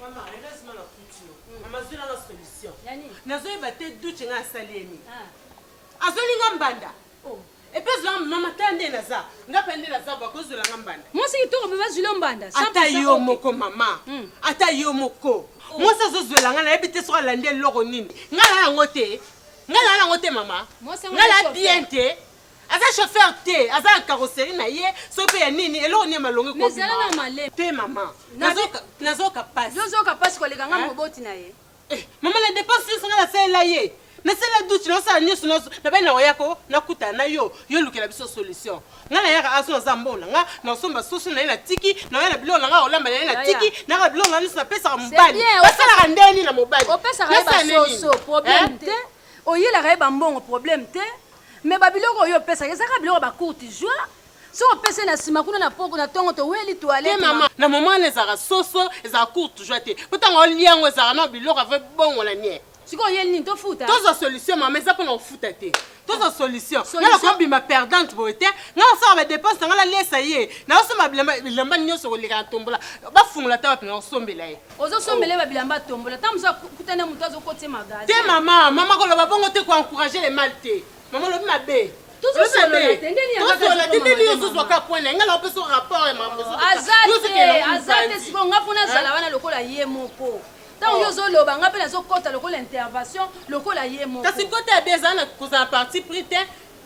Maman, heureusement na kuti yo. Maman, zui nanga solution. Ya nini? Nazoyeba te duche nga asali ye nini. Ah. Azoli nga mbanda. Oh. Epe azwa nga mama ta nde naza. Nga pe nde naza bo akozwela nga mbanda. Mwasi kitoko mpe bazwi yo mbanda. Ata yo moko mama. Hmm. Ata yo moko. Oh. Mwasi azozwela nga nayebi te soki alandi eloko nini. Nga na yango te. Nga na yango te mama. Nga na bien te. aza chauffeur te aza na carrosserie na ye soki mpe ya nini eloko nini ya malonga Mais zala na malema. te mama Na- nazoka nazoka pasi Yozoka pasi koleka nga Hein? moboti na ye. Eh, mama na dépense nyonso ngai nasalela ye nasalela duti nasala nyonso nyonso nabai na oyako nakutana na yo yo olukela biso solution ngai nayaka aso naza mbongo na ngai nakosomba soso na ye natiki naoya na biloko na ngai olamba na ye natiki nayaka biloko na ngai nyonso napesaka mobali bien, basalaka ndenge nini na mobali Opesaka ye Nasala ndenge nini? basoso problème Eh? te. Oyelaka ye bambongo problème te. Mais ba biloko oyo opesaka eza kaka biloko ya ba courte joie? Soki opesi ye na sima kuna na poko na tongo toweli toilette Te maman. Na moment wana ezalaka soso, ezalaka courte joie te. Po tango olia yango ezalaka nao biloko avo ebongola nie. Sikoyo oyeli nini? Tofuta? Tozwa solution maman, eza pona kofuta te. Tozwa solution. Nga Solution? nako bima perdante boye te. Nga nako sala ba depenses na nga na liesa ye. Nao somba bilamba, bilamba nioso koleka na tombola. Ba fungola ata wapi nako sombela ye. ozo sombele ba bilamba tombola ta musa kutana mutu azo kotse magasin te mama mama ko loba bongo te ko encourager le mal te mama lobi mabe tozosolola te ndeni tozosolola te ndeni yo ozozwa ka point na ngala opeso rapport ya mambo aza te aza te sikoyo nga mpo nazala wana lokola ye moko ntango oh. yo ozoloba nga mpe nazokɔta lokola intervention lokola ye moko kasi kota ya bi ezala na kozala parti pris te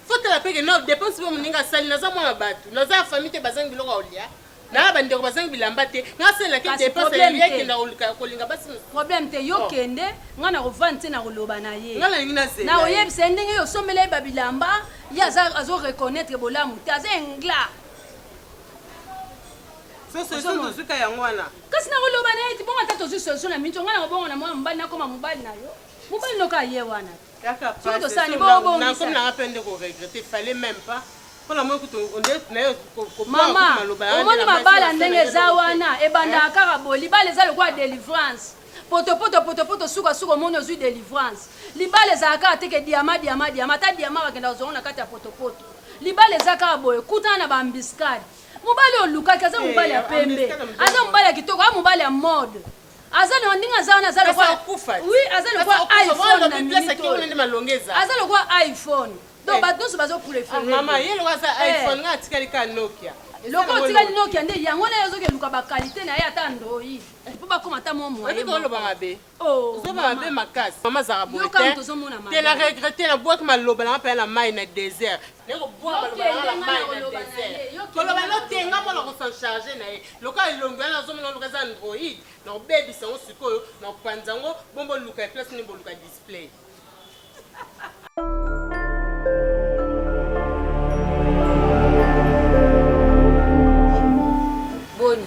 fotala mpe ke na dépense mpe moninga asali naza mwana bato naza ya famille te bazangi biloko ya olia naya ba ndeko bazangi bilamba te nasalelaki Kasi depense problème ya te. ekenda koluka kolinga basi mosusu problème te yo Oh. kende nga nakovanda te nakoloba na ye nga nalingi nazela ye. nakoyebisa ye ndenge yo osombela ye babilamba ye aza azo reconnaître bolamu te aza ingla so solution Ozomona. tozwika yango wana kasi nakoloba na ye te bongo ata tozwi solution na minito nga nakobongo na mwana mobali nakoma mobali na yo Mobali noka aye wana. Kaka pasi soki nakomi nanga pe nde ko regretter fallait même pas mpona moi kutu onde nayo komaloba yango omoni mabala ndenge eza wana ebandaka kaka bo libala eza lokola delivrance potopoto potopoto suka suka omoni ozwi delivrance libala ezala kaka teke diama diama diama ata diama bakenda kozwango na kati ya potopoto libala eza kaka boye kutana na baambiskade mobali olukaki aza eh, mobali ya pembe aza mobali ya kitoko aza mobali ya mode aza na ndenge aza wana aza lokola oui aza lokola iPhone na minute oyo nde malonga eza aza lokola iPhone donc eh. bato nyonso bazo préfère ah, mama ye lokola aza eh. iPhone nga atikali ka Nokia lokola otikali Nokia nde yango na ye ozoki eluka ba qualité na ye ata Android eh. mpo bakoma ata mwa moyen oloba mabe oh, ozoba mabe makasi mama zaka boye te na regrette na bwaki maloba na nga mpe na mai na désert Naye kobuaka maloba nanga na mayi na desert. Koloba eloko te nga moko nako s'en charger naye. Lokola elongi wana nazo mona oloka eza android nako bebisa yango sikoyo nako panza yango bon bo luka ye place nini bo luka display. Boni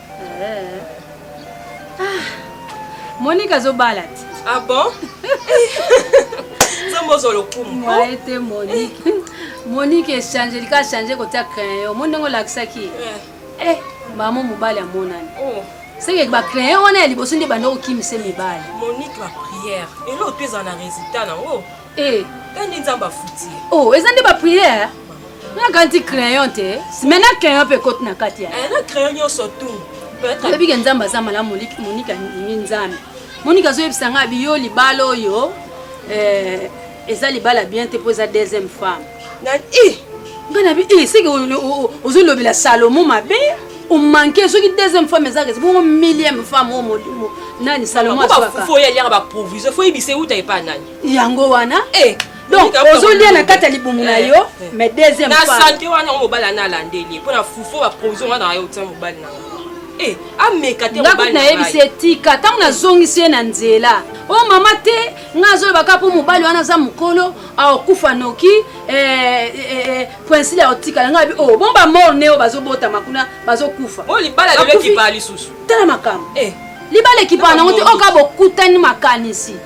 Eh. Ah, Monica azobala te. Ah bon? Nzambe ozwa lokumu. Mwaye te Monique. Monique echange lika achange kotia crayon. Omoni ndenge olakisaki? Eh. eh, mama mobali amonani. Oh. seke bacrayon wana ya liboso nde banda kokimisa mibali monique la prière eloo mpe ezala na résultat nango Eh. Kandi nzambe afuti. Oh, eza nde ba prière. Na kanti crayon te. Mais na crayon pe kote na kati ya. Eh, na crayon nyonso tout. Oyebi ke nzambe aza malamu Monika ndimi nzambe. Monika azoyebisa ngai abi yo libala oyo eh, eza libala bien te mpo eza deuxième femme. Na i. Eh! Ngai na bi i eh, seke ozolobela Salomon mabe. omanke soki deuxième femme ezaka esi bongo millième femme oyo molimo nani salomon aswaka fo oyaliaka baprovision fo oyebisa euta epa nani yango wana eh, donc ozolia na kati ya libumu na eh, yo eh. mais deuxième na sante wana yango mobali ana alandeli mpo na fufu baprovision wana na yo otia mobali na eh, ameka te ngakuti nayebisi etika ntango nazongisi ye na nzela o oh, mama te ngai azoloba kaka mpo mobali wana aza mokolo aokufa noki poinsile aotikala ngai abi o oh, bon bamor neo bazobotama kuna bazokufa oh, tala makambo libala ekipaa nango te oka bokutani makanisi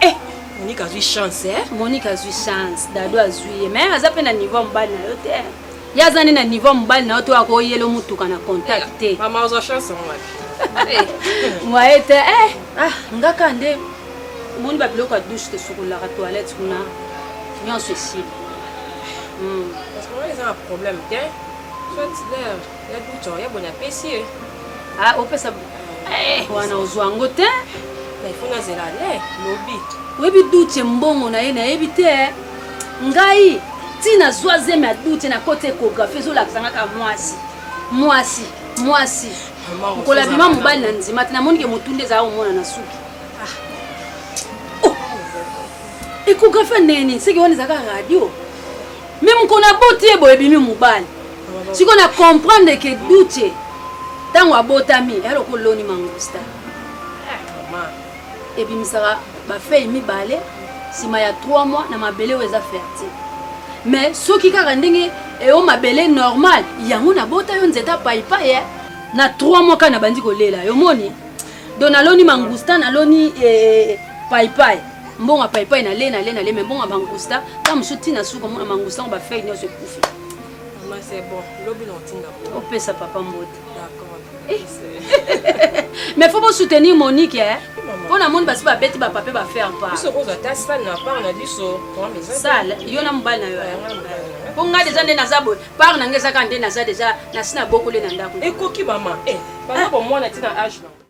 Eh, Monique azui chance eh. Monique azui chance, Dado azui ye, mais aza pe na niveau ya mobali na yo te. Ye aza nde na niveau ya mobali na yo to akoyelo motuka na contact te. Mama ozwa chance yango wapi? Mwaye te eh. Ah, nga kaka nde omoni ba biloko ya douche tosukolaka toilette kuna nyonso esili. Hmm. Parce que wana eza na problème te. Soit Ya buto, ya bonya pesi ye. Ah, opesa eh, wana ozwa yango te. Na ifo na zela le lobi. Oyebi duche mbongo na ye nayebi te. Eh. Ngai ti nazwa zemi ya duche na koti ekografi ezolakisa nga ka mwasi mwasi mwasi mokolo abima mobali na nzima te namoni ke motu nde ezala komona na suki ah. oh. ekografi ya ndenge nini seke wana ezalaka radio me mokolo aboti ye boye ebimi mobali siko na comprendre ke duce ntango abotami eya lokola oloni mangusta eh, ebimisaka bafei mibale nsima ya 3 mois na mabele oyo eza fertile mais soki kaka ndenge eyo mabele normal yango nabota yo nzete apaipai eh. na 3 mois kaka nabandi kolela yo moni don naloni mangusta naloni eh, eh, paipai mbongo ya paipai nale nale nale me mbongo ya mangusta ntango mosusu ntina suka mona mangusta yango bafei nyonso ekufi Maman c'est bon. Lobi na otinda po. Opesa papa mbote. D'accord. Eh. Mais faut pas soutenir Monique hein. Mpo na moni basi babeti bapape bafaire parsale yo na mobali na yo mpo ngai deja nde naza boye par na ngai ezaka nde naza deja nasi na bokoli na ndako ekoki mama eh, bana bomwana ntina age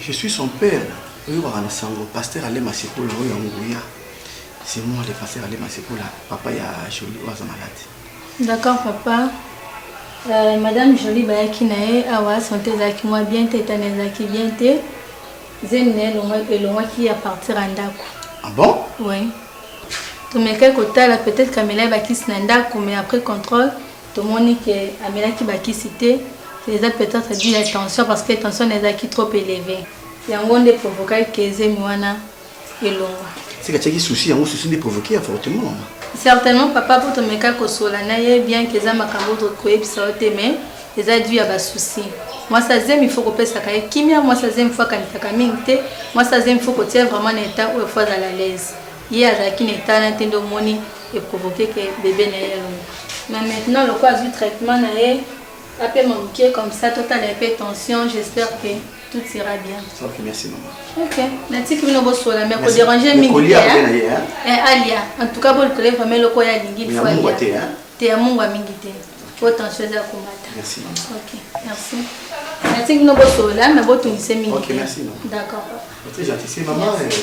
Je suis son père oyokaka na sango pasteur ale masikola oyo ya nguya c'est moi le pasteur ale masikola papa ya joli oyo aza malade d'accord papa euh, madame joli bayaki na ye awa sante ezalaki mwa bien te etana ezalaki bien te zemi na ye elongwaki ya partir ya ndako ah bon oui tomekaki kotala peut-être kamela ye bakisi na ndako mais après contrôle Tomoni que amelaki ba kisi te, eza peut etre du ya tension parce que tension naye ezalaki trop eleve yango nde provokaki que zemi wana elongwa. Seke atiaki souci yango souci nde provoque avortement. Certainement papa po tomeka kosola na ye bien que eza makambo to koyebisa yo te mais eza du ya ba souci. Mwasi ya zemi faut kopesaka ye kimia, mwasi ya zemi faut akanisaka mingi te, mwasi ya zemi faut kotia ye vraiment na etat oyo faut azala à l'aise. Ye azalaki na etat naye te nde omoni e provoquer que bebe naye elonga. Mais maintenant lokola azui traitement naye apema mukie comme ça totala ye pe tension j'espère que tout sera bien. Ok merci maman. Ok natiki bino bosola mais ko deranger mingi te hein. Eh alia en tout cas bo likole vraiment eloko ya lingi il faut alia. Te hein. Te ya mungwa mingi te. Po tension eza komata. Merci maman. Ok merci. Natiki bino bosola mais botungise mingi. Ok merci maman. D'accord. Très gentil c'est maman. Merci.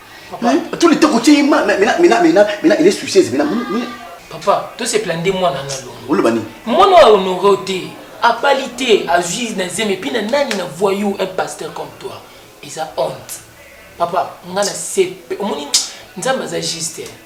Tout le temps kotie ye ma mena mena mena mena il est soucieuse mena mena. Papa, to se plaindre mwana na longo. Oloba nini? Mwana wa honore te. Abali te, azui na zeme puis na nani na voyou un pasteur comme toi. Eza honte. Papa, nga na sepe. Omoni Nzambe aza juste. Hein.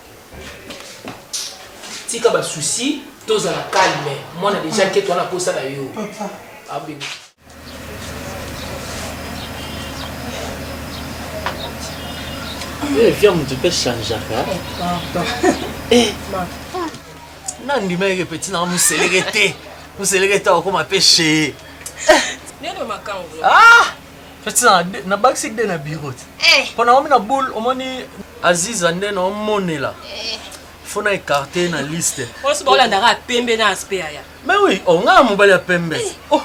tika ba souci tozala calme mwana deja nkete wana akosa na yo abebe Eh, viens, tu peux changer. Eh, nandimaki petit na moseleke te moseleke te akoma pe chee nini makambo ah Fetina na bakisi de na bureau ti. Eh. Pona omi na boule omoni Aziza nde na omonela. Eh. Faut na écarter na liste. Osi ba olanda ka pembe na aspect ya. Mais oui, on oh, a mobali ya pembe. Eh. Oh.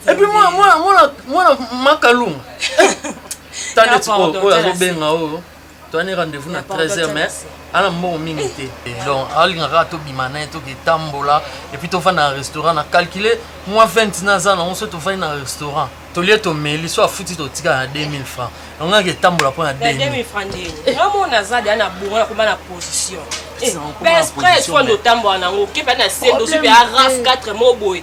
Et puis moi moi moi moi makalunga. Tande ti oyo azobenga oyo. toani rendez-vous na 13 heures mais ana mbongo mingi te donc alinga kaka tobima naye toke tambola epuis tofanda na restaurant na calcule mwa 20 naza nango so tofandi na restaurant tolie tomeli so afuti totika na 2000 franc yango yake etambola mpo na 2000 franc ndeni namona aza deya na bourgo ya koma na position pespre fo nde otambola nango okepe na sendo soki ya raf 4 mo boye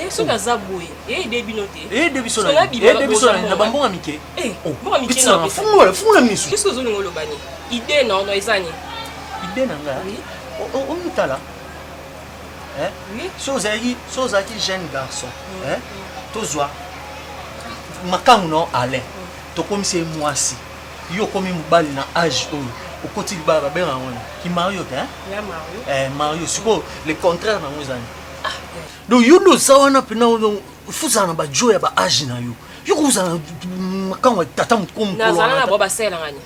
Eh, soki aza boye eyede bino te eyede biso na bambonga mike eh, oh, fungola fungola miso kisi ozolinga oloba ni ide na ono eza ni ide na nga omutala so ozalaki so ozalaki jeune garçon mm. tozwa makangu na alain mm. tokomisi ye mwasi yo okomi mobali na age oyo okoti libala babenga yango ni ki mario te mario sikoyo le contraire na yango ezani donc yo nde oza wana mpena fozala na bajo ya baage na yo yo kozala mm, makambo ya tata mokomnazala na bo basalelangani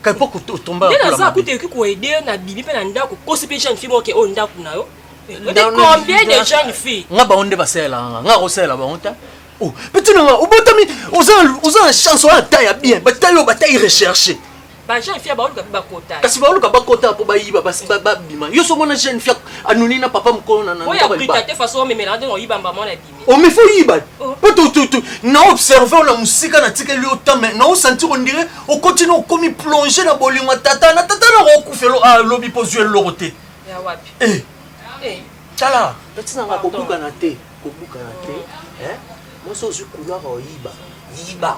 kaipo kotomba nde naza kuta ekoki koede yo na bibi mpe na ndako kosi mpe jeune fille boke oyo ndako na yo combien de jeune fille nga bango nde basalelanga nga kosalela bango ta oh, mpe ntina nga obotami oza na chance oza na ta ya bien batai oyo batai recherche ba jeune fille baoluka mpe bakota kasi baoluka bakota mpo bayiba babima yo soki mona jeune fille anuni na papa mokolo naoyabrikate façon omemelaka ndenge oyiba mbama wana ebimi omefi oyiba mpo oh. na observe ona mosika natikeli yo tame na osentir ondire okoti na okomi plonge na bolingo ya tata na tata na okufelo alobi ah, mpo ozwi eloko te eh. Eh. tala tatinanga kobukana te kobukana te eh? mwasi ozwi kulaka oyiba yiba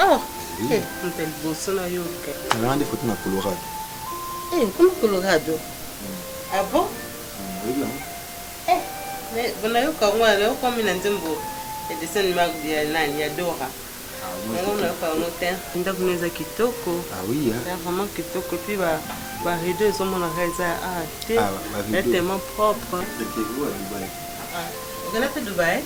Oh, oui. eh, mpe liboso na yo ke. Nazalaka nde foto na Colorado. Eh, okoma Colorado? Mm. Ah bon? Mm, oyebi yango? Eh, mais bonayoka yango wana okomi na nzembo ya dessin animé ya nani ya Dora. Ah, yango nayoka yango te. Ndako na eza kitoko. Ah oui, hein? Eza vraiment kitoko puis ba ba rideau ezomonaka eza ah te. Ah, ba rideau. Eza tellement propre. Ete oyo ya Dubaï. Ah, okenda mpe Dubaï?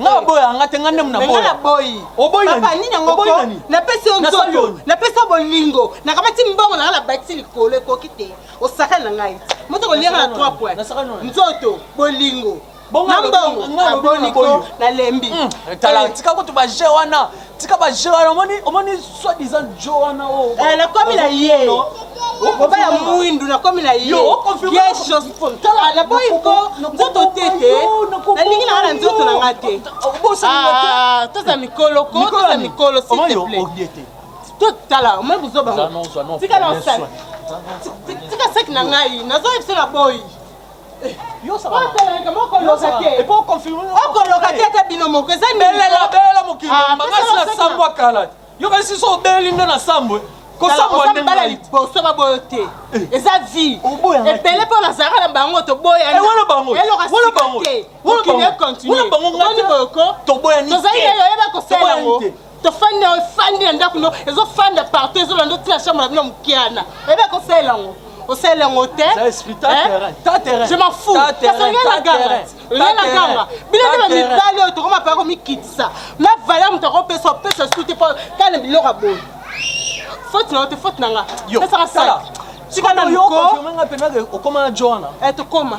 nga aboya nga te nga nde munaboya nga boyi oboyi nani papa nini yango oboyi nani na pesi yo nzoto na pesi yo bolingo na kamati mbongo na nga na bakisi likolo ekoki te osaka na ngai moto koliaka na trois points nzoto bolingo na mbongo aboniko nalembi hmm, tala eh. tika kutu ba jeu wana tika ba jeu wana omoni omoni soit disant jo wana o oh, eh, nakomi na ye oba ya mwindu nakomi na ye naboyi ko nzoto te te nalingi nanga na nzoto na nga te ah, toza mikolo ko toza mikolo sitepla totala omoi buzoba tika na osali tika saki na ngai nazoyebisa na boyi okoloka te ata bino moko eza belela belela mokili ah, mobimba ngasi na sambo akala yo kasi so obeleli nde na sambo eh. kosambala liboso baboyo te eh. eza vie ebele mpo nazalaka na bango toboyanelokasikateokinoekontinueoniboko tozali nayo oyeba kosala yango tofandi awa efandi na ndako no ezofanda partout ezolanda otina chambre na bino mokiana oyebi akosalela yango osalela yango te je m'en fous kasi olingi naganga olingi naganga bino nde bamibali oyo tokoma paya komikitisa na valeur moto akopesa opesa su te mpo kala na biloko ya boye faute na yo te faute na nga pesaka sala tikana moko okoma na joana tokoma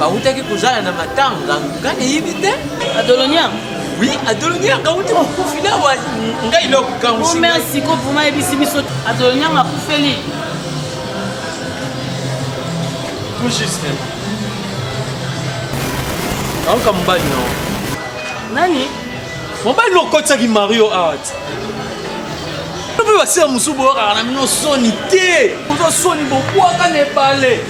bawutaki kozala na matanga nga nayebi te adolonia oui adolonia nga wuti mokufi na wa ngai lokokangomerci ko vraimen yebisi biso adolonia nga kufeli tout juste aoka mobali nao nani Mobali no kotsaki Mario Art. Mpe basila mosusu boyokaka na bino soni te. Oza soni bokwaka na ebale.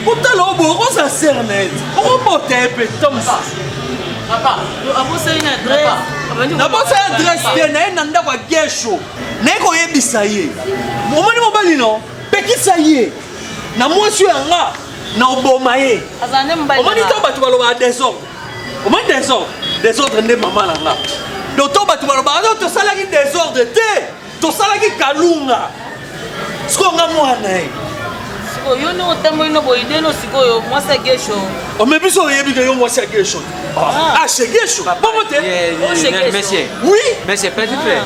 Kotala oyo boyo oza ser na ye. Okobota ye mpe ta mosusu. Abosani na adresse. nabosala adresse te naye na ndako ya gesho naye koyebisa ye omoni mobali no pekisa ye na mwasi oyo yanga na oboma ye omoni to bato balobaka desordre omoni desordre desordre nde mama na nga doto bato balobaka no tosalaki desordre te tosalaki kalunga sikoyo nga mwana ye yo nde otamboli na boyidelo sikoyo mwasi ya gesho ome biso oyebi ke yo mwasi ya gesho ah, ah. ah chez gesho bongo te oh, monsieur monsieur petit frère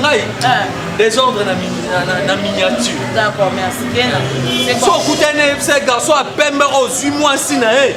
ngai eh. desordre na miniature so okutani na ye bisa garçon ya pembe ozwi mwasi na ye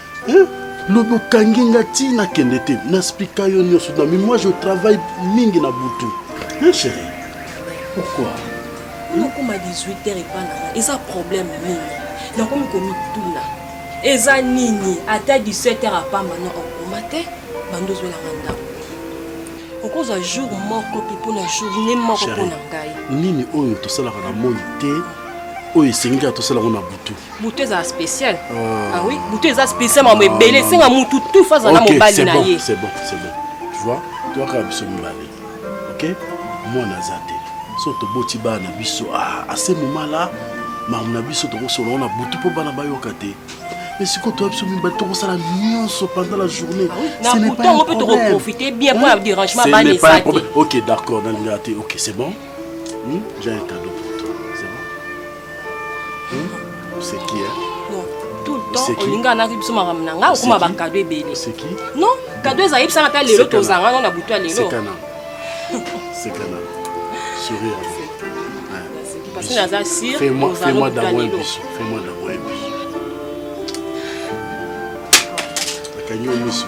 Eh, lobi okangi nga ti nakende te naspika yo nyonso na mimoi je travaille mingi na butu eh, chéri pourquoi nakoma 18 heure epa nanga eza problème nini nakomi komituna eza nini ata 17 heure apamba na okoma te bando ozwelanga ndako okozwa jour moko mpe mpo na journée moko mpo na ngai nini oyo tosalaka na moi te oyo esengeli ya tosalaka na butu butu ezala spécial ah. ah oui butu eza spécial mama ebele esenga mutu tufa azala mobali na ye c'est bon c'est bon tu vois toyaka biso mibale ok mwana aza te so toboti bana na biso ah, ase moma la mamu na biso tokosolola na butu mpo bana bayoka te mais sikoyo toya biso mibale tokosala nyonso pendant la journée ah nabutango mpe tokoprofite bien mpo ya dérangement bana eza te ok d'accord nalingaka te ok c'est bon hmm? j'ai un cadeau oseki hmm? eh? non tout le temps olingaka naki biso makambo na ngai okoma bakado ebele non kado ezali bisana ata lelo tozanga no na butu ya lelo parce naza sir fais-moi d'amour biso fais-moi d'amour biso akangi yo miso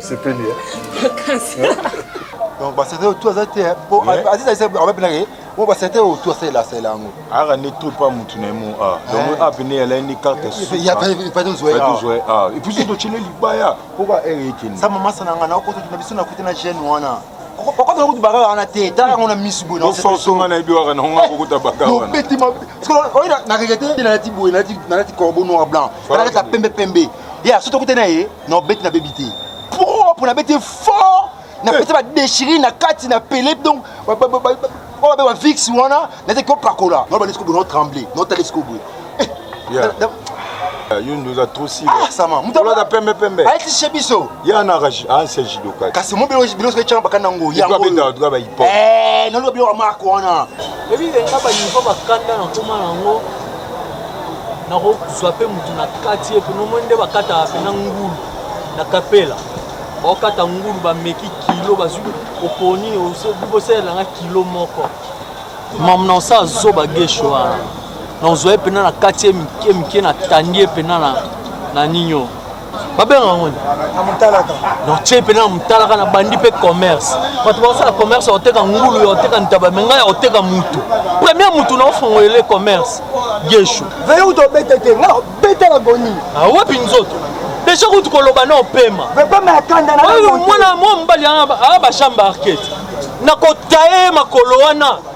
sepeli donc baserte oyo tu aza te po azizalisa abapinaka ye mo baserte oyo tu asalela asalela yango aka nde to pa mutu na ye mo a donc ape nde yalai ni carte sukaepatozwa a epuis soki tocele libaya poka ere ekende sa mama sananga na okota na biso na kote na jeune wana okota kutu baka wana te tala yango na misu boye ososonga na yebi waka nango akokota baka wanabeti oyo na regrete nalati boye nalati corbeau noir blanc nalati ya pembe pembe ya soki tokute na ye Non, bête na baby te. Propre na bête fort. Na pesa ba déchirer na kati na pele donc ba ba ba ba ba vix wana na te ko pakola. Non, ba laisse ko bono trembler. Non, ta laisse ko boye. Yeah. Eh, yo ndoza trop sila ah, sama mutolata pembe pembe ayetise biso ye ana anse jidoka kasi mo bilo bilo soki etyanga bakanda yango yangoabetaka tuka bahipo eh, naloba bilo ya marke wana ebi enga banivo bakanda nakoma yango nakozwa mpe motu na kati ye kuna omoni nde bakataka mpena ngulu na kapela baokata ngulu bameki kilo bazwi oponi bosalela nga kilo moko mamna osa zoba gesho wana nazwa ye mpena na kati ye mike mike natandi ye mpena na ninio babenga yango na motalaka nortie mpena na motalaka na bandi mpe commerce bato bakosala commerce ya koteka ngulu ya koteka ntaba me ngai ya koteka mutu premier mutu na ofongolele commerce geshu veyeuta obete te nga obetela goni awapi ah, nzoto deja kutu koloba na opema mwana mobali aa bashamba arket nakotaye makolo wana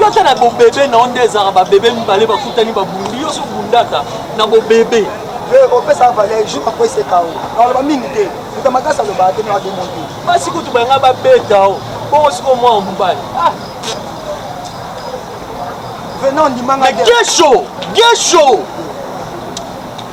Yo ata na bobebe na yo nde ezalaka babebe mibale bakutani babundi yo so bundaka na bobebe. Yo ekopesa valeur jour akweseka yo. Aloba mingi te. Moto makasi alobaka te na ademo te. Basi kutu banga babeta yo. Bongo siko mwa mobali. Ah. Venant ndimanga. Mais Gesho, Gesho.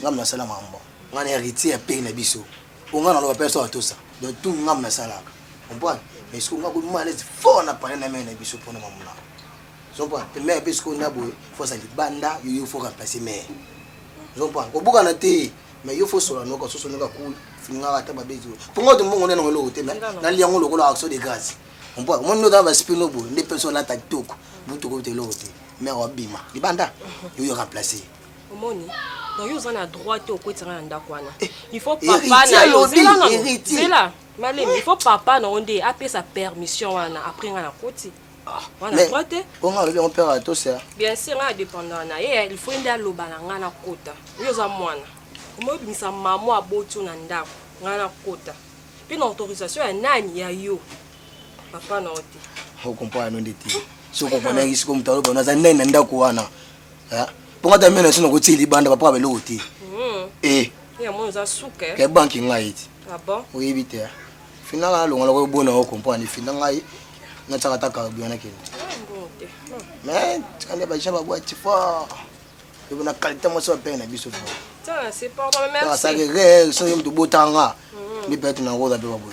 Nga mna sala mambo. Nga na heritier ya pays na biso. Po nga na loba pesa wa tosa. Donc tout nga mna salaka. Comprendre? Mais siko nga ko mona les fort na parler na mère na biso pona mambo na. Comprendre? Pe mère pe siko na boye faut ça libanda yo yo faut remplacer mère. Comprendre? Ko buka na te. Mais yo faut sola noka soso noka cool. Finga ata ba bezo. Po nga to mbongo nena ngolo te mais na liango lokola action de grâce. Comprendre? Mon nota ba spino bo nde personne la ta toko. Butu ko te lote. Mère wa bima. Libanda yo yo remplacer. omoni donc yo oza na droit te okwetisa nga na ndako wana eh, il faut papa na yo zela na zela malemi il faut papa na yo nde apesa permission wana après nga na koti ah, wana droit te po nga alobi yango père atosa bien sûr nga dépendant na ye il faut nde aloba na nga na kota yo oza mwana omoyi obimisa mamo aboti yo na ndako nga na kota mpe na autorisation ya nani ya yo papa na yo te okompo yano nde te soki okomponaki sikoyo moto aloba naza nani na ndako wana eh, mpo nga ta mena esi nakotie libanda bapaka beloko te hmm. eh. ke banki ngai ete ah oyebi te finanga nalonga loko obona o comprendre fina ngai natiaka ta carburant nakende mais tikande baja babwati fort epo na qualité mwasi bapene na biso fort asaki re soki moto botanga mpe pete na ngoza mpe baboye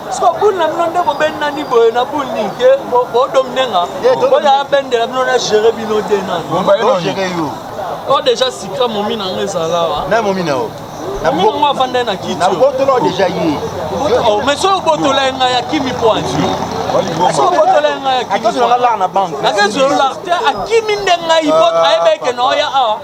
Siko bul na bino nde bobendi nani boye na bul nini te bodomine nga boya abendela bino na gere bino te nani o deja sika momi na nga ezala wa na momi na yo momi na ngo avandai na kiti nabotola deja ye oh, mais soki obotola ye ngai akimi po anzi akezola lar te akimi nde ngai ayebeke na oya awa